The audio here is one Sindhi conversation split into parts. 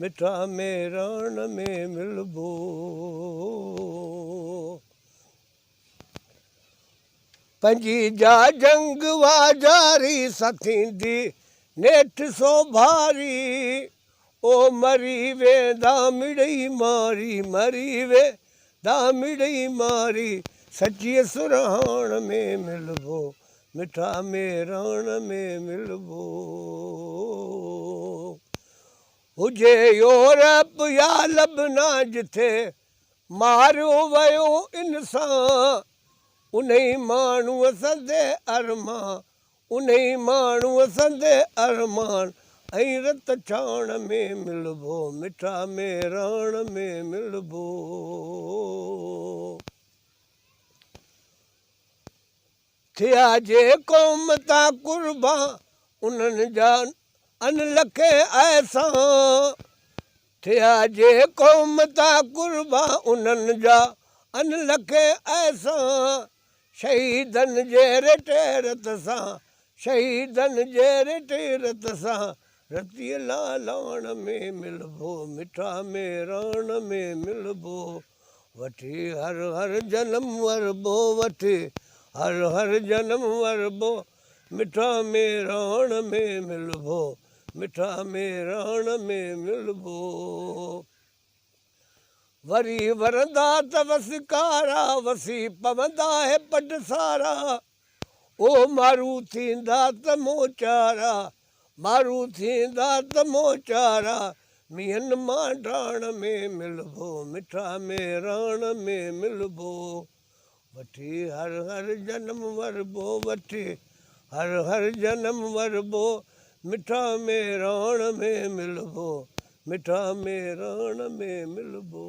مٺا ميراڻ ۾ ملبو. پنهنجي جا جنگ وا جاري، سٿيندي نيٺ سوڀاري. او مري ويندا مڙئي ماري، مري ويندا مڙئي ماري. سچيء سرهاڻ ۾ ملبو، مٺا ميراڻ ۾ ملبو. هجي يورپ يا لبنا جتي ماريو ويو انسان انهي ماڻهو سندي ارمان انهي ماڻهو سندي ارمان ۽ رت ڇاڻ ۾ ملبو مٺا ميراڻ ۾ ملبو. ٿيا جي قوم تان قربان انهن جا ان لکين احسان ٿيا جي قوم تان قربان انهن جا ان لکين احسان شهيدن جي رٽي رت سان شهيدن جي رٽي رت سان رتي لالاڻ ۾ ملبو مٺا ميراڻ ۾ ملبو. وٺي هر هر جنم وربو وٺي هر هر جنم وربو مٺا ميراڻ ۾ ملبو مٺا ميراڻ ۾ ملبو وري ورندا ته وسڪارا وسي پوندا هي پٽ سارا او مارو ٿيندا ته مون چارا، مارو ٿيندا ته مون چارا، مينھن مان ڊاڻ ۾ ملبو، مٺا ميراڻ ۾ ملبو. وٺي ھر ھر جنم وربو، وٺي ھر ھر جنم وربو، مٺا ميراڻ ۾ ملبو، مٺا ميراڻ ۾ ملبو.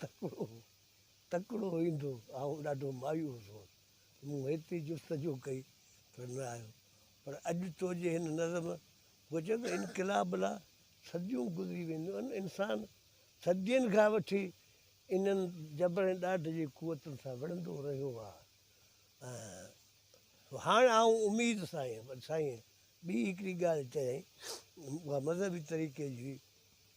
تڪڙو تڪڙو ايندو. آئون ڏاڍو مايوس هوس. مون هيتري جستجو ڪئي پر نه آيو. پر اڄ تو جي هن نظم هو چئي ته انقلاب لا صديون گذري وينديون انسان صدين کان وٺي انهن جبر ۽ ڏاڍ جي قوتن سان وڙهندو رهيو آ ۽ هاڻ آئون اميد سان آهيان پر سائين ٻي هڪڙي ڳالهه چيائين اها مذهبي طريقي جي هئي.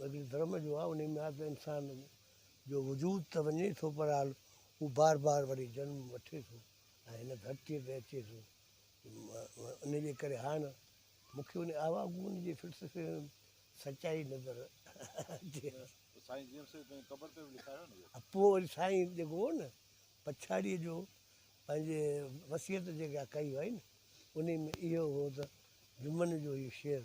وزير ڌرم جو آهي انهي ۾ آهي ته انسان جو وجود ته وڃي ٿو پر حال هو بار بار وري جنم وٺي ٿو ۽ هن ڌرتي تي اچي ٿو ان جي ڪري هاڻ مون کي ان آواگون جي فلسفي ۾ سچائي نظر اچي پوء وري سائين جيڪو هو نه پڇاڙيء جو پنهنجي وصيت جيڪا ڪئي هئي نه انهي ۾ اهو هو ته جمن جو هي شعر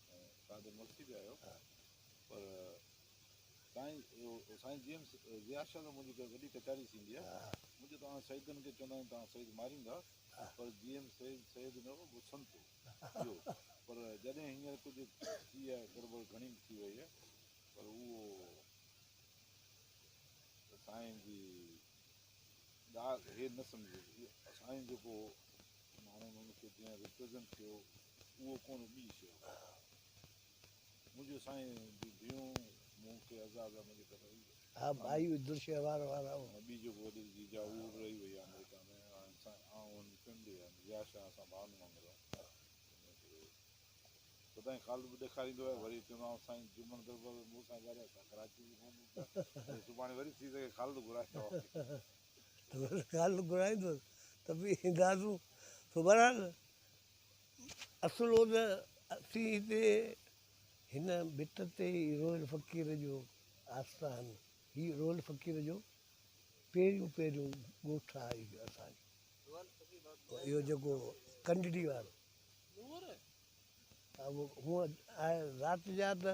تان تي ملڪي به آهيو پر سائين سائين جي ايم ضياء شاهه سان منهنجي وڏي ڪچهري ٿيندي آهي منهنجو توهان سيدن کي چوندا آهيون توهان سيد ماريندا پر جي ايم سيد سيد نه هو هو سنت هو پر جڏهن هينئر ڪجهه ٿي آهي گڙبڙ گهڻي ٿي وئي آهي پر اهو سائين جي ڳالهه هي نه سمجهي سائين جيڪو ماڻهن ان کي جنهن ريپريزنٽ ڪيو اهو ڪونه ٻي شيء هئا. منهنجو سائين جي ڌيئون مون کي عزاز احمد جي ڪري رهي ويا. ٻي جيڪو وڏيري جي جاء اهو به رهي وئي آمريڪا ۾ هاڻي سائين آئون هن فيملي ۽ ضياء شاهه اسان ڀائن وانگر آهيون تنهن ڪري سدائين خالد به ڏيکاريندو آهي وري چوندو آهيان سائين جمن دربر مون سان ڳالهايو ته ڪراچي جي فون ڪيا سڀاڻي وري ٿي سگهي خالد گهرائيندو آهي. ڳالهه گهرائيندس ته به اينداسون سو بهرحال اصل هو ته اسين هتي هن ڀت تي ئي روئل فقير جو آستان هي روئل فقير جو پهريون پهريون ڳوٺ آهي اهو اسانجو اهو جيڪو ڪنڊڙي وارو اهو هونئن آهي رات جا ته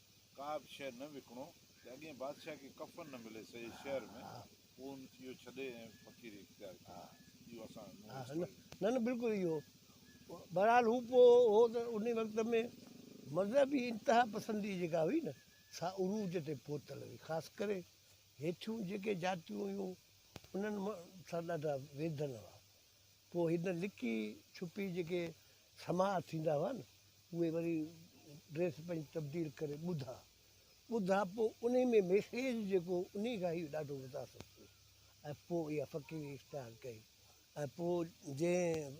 ڪابه شيء نه وڪڻو ته اڳئين بادشاهه کي ڪفن نه ملي سڄي شهر ۾ پوء هن اهو ڇڏي ۽ فقيري اختيار ڪئي اهو اسان نو اسٽوري ۾ نه نه بلڪل اهو بهرحال هو پوء هو ته انهي وقت ۾ مذهبي انتها پسندي جيڪا هئي نه سا عروج تي پهتل هئي خاص ڪري هيٺيون جيڪي جاتيون هيون انهن سان ڏاڍا ويڌن هئا پوء هن لڪي ڇپي جيڪي سماء ٿيندا هئا نه اهي وري ڊريس پنهنجي تبديل ڪري ٻڌا ٻڌا پوء انهي ۾ ميسيج جيڪو انهي کان هي ڏاڍو متاثر ٿيو ۽ پوء اها فقيري اختيار ڪئي ۽ پوء جنهن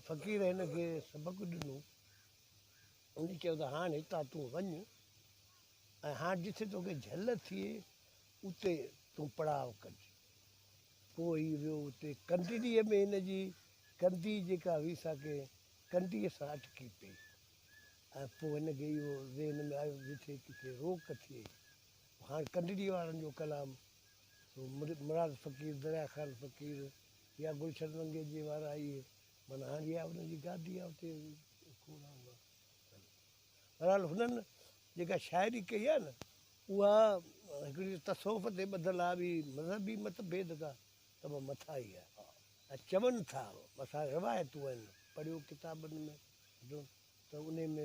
فقير هن کي سبق ڏنو انهي چيو ته هاڻ هتان تون وڃ ۽ هاڻ جتي توکي جهل ٿئي اتي تون پڙاء ڪج پوء هي ويو اتي ڪنڊڙيء ۾ هن جي ڪنڌي جيڪا هئي سا ڪنهن ڪنڊيء سان اٽڪي پئي ۽ پوء هن کي اهو ذهن ۾ آيو جتي ڪٿي روڪ ٿئي هاڻ ڪنڊڙيء وارن جو ڪلام سو مراد فقير دريا خان فقير يا گلشن منگيجي وارا اهي معنيٰ هاڻ اها انهن جي گادي آهي اتي کوڙ آهن. بهرحال هنن جيڪا شاعري ڪئي آهي نه اها هڪڙي تصوف تي ٻڌل آهي ٻي مذهبي مت ڀيد کان ته به مٿان ئي آهي ۽ چون ٿا مٿان روايتون آهن پڙهيو ڪتابن ۾ جو ته انهي ۾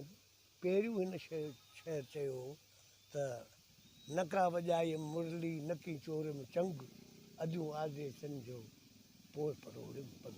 پهريون هن شعر چيو هو ته نڪا وڄايم مرلي نڪي چوريم چنگ اديون آزيسن جو پوء پروڙيم پنگ.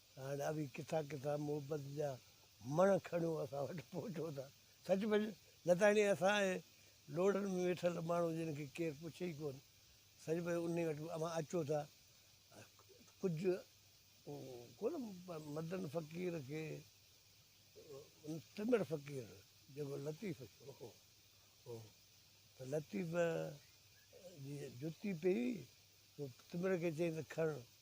هاڻ اوهين ڪٿان ڪٿان محبت جا مڻ کڻيو اسان وٽ پهچو ٿا. سچ پچ لتاڻي اسان اهي لوڙهن ۾ ويٺل ماڻهو جن کي ڪير پڇي ئي ڪونه سچ پچ انهي وٽ اوهان اچو ٿا ڪجهه ڪونه مدن فقير کي ٽمڙ فقير جيڪو لطيف هو هو ته لطيف جي جتي پئي هئي ٽمڙ کي چيائين ته کڻ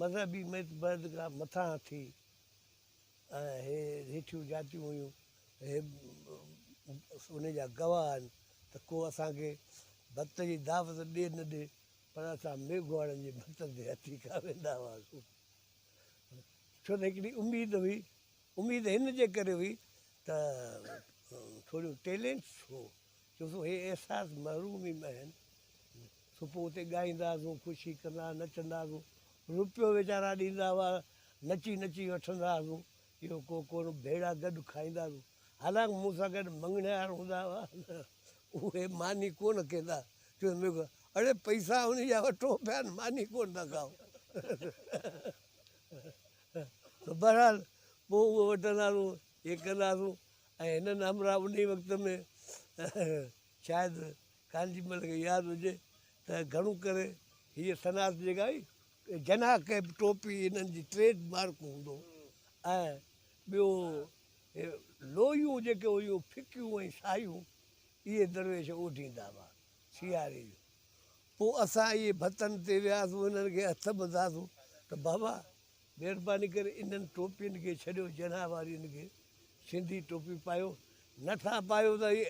مذهبي متڀيدگا مٿانهان ٿي ۽ هي هيٺيون جاتيون هيون هي ان جا گواهه آهن ته ڪو اسان کي ڀت جي دعوت ڏي نه ڏي پر اسان ميگهواڙن جي ڀتن تي هٿي کان ويندا هئاسون ڇو ته هڪڙي اميد هئي اميد هن جي ڪري هئي ته ٿوريون ٽيلينٽس هو چون سو هي احساس محرومي ۾ آهن سو پوء اتي ڳائيندا هئاسون خوشي ڪندا هئاسون نچندا هئاسون روپيو ويچارا ڏيندا هئا نچي نچي وٺندا هئاسون اهو ڪو ڪونه ڀيڙا گڏ کائيندا هئاسون حالانڪ مون سان گڏ مڱڻهار هوندا هئا اهي ماني ڪونه ڪندا چون ميگو اڙي پئسا انهي جا وٺو پيا ماني ڪونه ٿا کائو بهرحال پوء اهو وٺندا هئاسون هي ڪندا هئاسون ۽ هنن همراهه انهيء وقت ۾ شايد ڪانجي مل کي ياد هجي ته گهڻو ڪري هيء صنعت جيڪا هئي جناح ڪيپ ٽوپي هنن جي ٽريڊ مارڪ هوندو ۽ ٻيو هي لويون جيڪي هيون ڦڪيون ۽ سايون اهي درويش اوڍيندا هئا سياري جو پوء اسان اهي ڀتن تي وياسون هنن کي هٿ ٻڌاسون ته بابا مھرباني ڪري انھن ٽوپين کي ڇڏيو جنھن وارين کي سنڌي ٽوپي پايو نه ٿا پايو ته اھي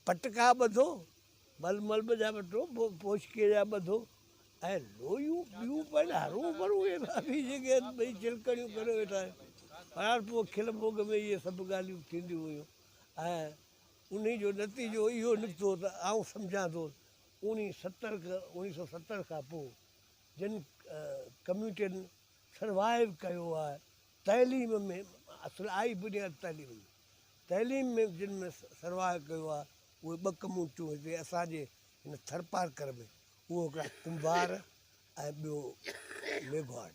پٽڪا ٻڌو مل ملب جا وٺو پوشڪي جا ٻڌو ۽ لويون ٻيون پن ھرو ڀرو اھي ڀاڀي جيڪي ٻئي چلڪڙيون ڪري ويٺا آھن پر پوء کل ڀوڳ ۾ اھي سڀ ڳالھيون ٿينديون ھيون ۽ انھي جو نتيجو اھو نڪتو ته آئون سمجھان ٿو اوڻي ستر اوڻي سو ستر کان پوء جن ڪميونٽين سروائيو ڪيو آ تعليم ۾ اصل آئي بنياد تعليم ۾ تعليم ۾ جن ۾ سروائيو ڪيو آ اهي ٻه ڪميونٽيون هتي اسان جي هن ٿرپارڪر ۾ اهو هڪڙا ڪنڀار ۽ ٻيو ميگهواڙ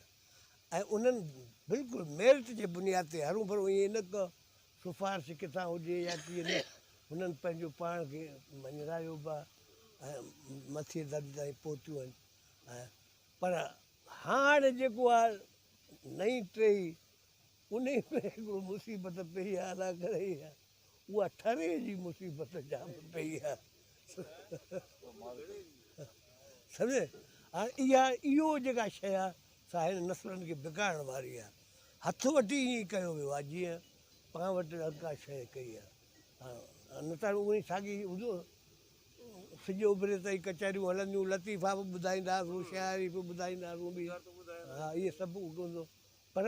۽ انهن بلڪل ميرٽ جي بنياد تي هرون ڀرون ائين نه ڪو سفارش ڪٿان هجي يا ڪيئن نه هنن پنهنجو پاڻ کي مڃرايو به آ ۽ مٿي درجي تائين پهتيون آهن پر هاڻ جيڪو آ نئين ٽهي انهي ۾ هڪڙو مصيبت پيئي آ الله ڪري اها ٺري جي مصيبت جام پيئي آ سمجهي هاڻ اها اهو جيڪا شيء آ سا هن نسلن کي بگاڙڻ واري آ هٿ وٽي ائين ڪيو ويو آ جيئن پاڻ وٽ ڪا شيء ڪئي آ نه ته هاڻ اهي ساڳي هجو سج اڀري تائين ڪچهريون هلنديون، لطيفا به ٻڌائيندا هئاسون، شاعري به ٻڌائيندا هئاسون به، ها اهي سڀ هوندو پر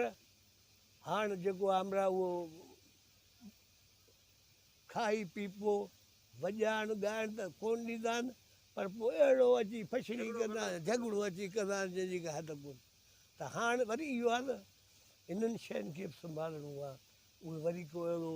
هاڻ جيڪو آمرا اهو کائي پيپو وڄائڻ ڳائڻ ته ڪون ڏيندا آهن پر پوء اهڙو اچي فشري ڪندا آهن جهڳڙو اچي ڪندا آهن جنهن جي ڪا حد ڪون ته هاڻ وري اهو آهي نه انهن شين کي به سنڀالڻو آهي اهي وري ڪو اهڙو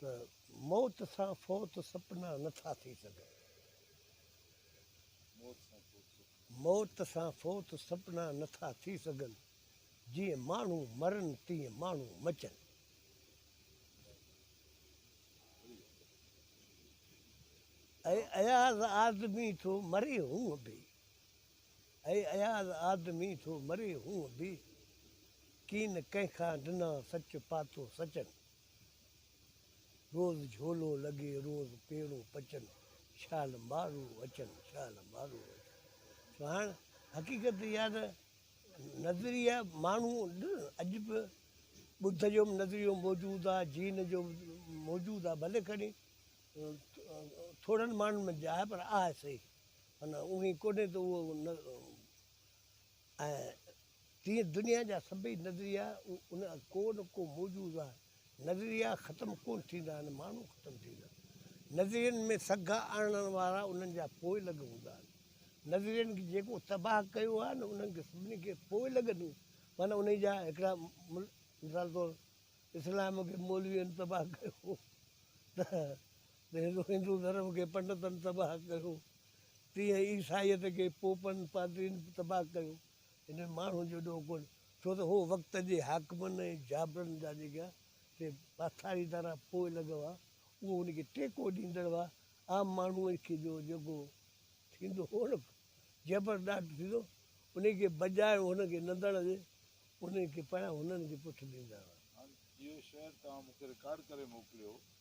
ته موت سان فوت سپنا نه ٿا ٿي سگهن. موت سان فوت سپنا نه ٿا ٿي سگهن. جيئن ماڻهو مرن تيئن ماڻهو مچن. اي اياز آدمي ٿو مري هونء به. اي اياز آدمي ٿو مري هونء به ڪين ڪنهن کان ڊنا سچ پاتو سچن روز جهولو لڳي روز پيڙون پچن شال مارو اچن شال مارو اچن سهڻ حقيقت اها ته نظريا ماڻهو اڄ به ٻڌ جو به نظريو موجود آهي جين جو موجود آهي ڀلي کڻي ٿورن ماڻهن ۾ جاء پر آهي صحيح ان اوهين ڪونهي ته اهو نه ۽ تيئن دنيا جا سڀئي نظريا ان ڪون ڪو موجود آهن نظريا ختم ڪون ٿيندا آهن ماڻهو ختم ٿيندا نظرين ۾ سگها آڻڻ وارا انهن جا پوئلڳ هوندا آهن نظرين کي جيڪو تباهه ڪيو آهي نه انهن کي سڀني کي پوئلڳ ڏيون معنيٰ انهي جا هڪڙا مثال طور اسلام کي مولوين تباهه ڪيو ته جيئن هندو ڌرم کي پنڊتن تباهه ڪيو، تيئن عيسائيت کي پوپن، پادرين، تباهه ڪيو. انهن ماڻهن جو ڏوهه ڪونه، ڇو ته هو وقت جي حاڪمن ۽ جابرن جا جيڪا سي پاساري تارا پوء لڳ هئا، اهي ان کي ٽيڪو ڏيندڙ هئا. عام ماڻهو کي جو جيڪو ٿيندو هو نه جبر ڏاڍ ٿيندو، ان کي بجاء هن کي نندڻ جي، ان کي پنهنجا هنن جي پٺ ڏيندا هئا. هاڻ اهو شعر توهان مون کي رڪارڊ ڪري موڪليو.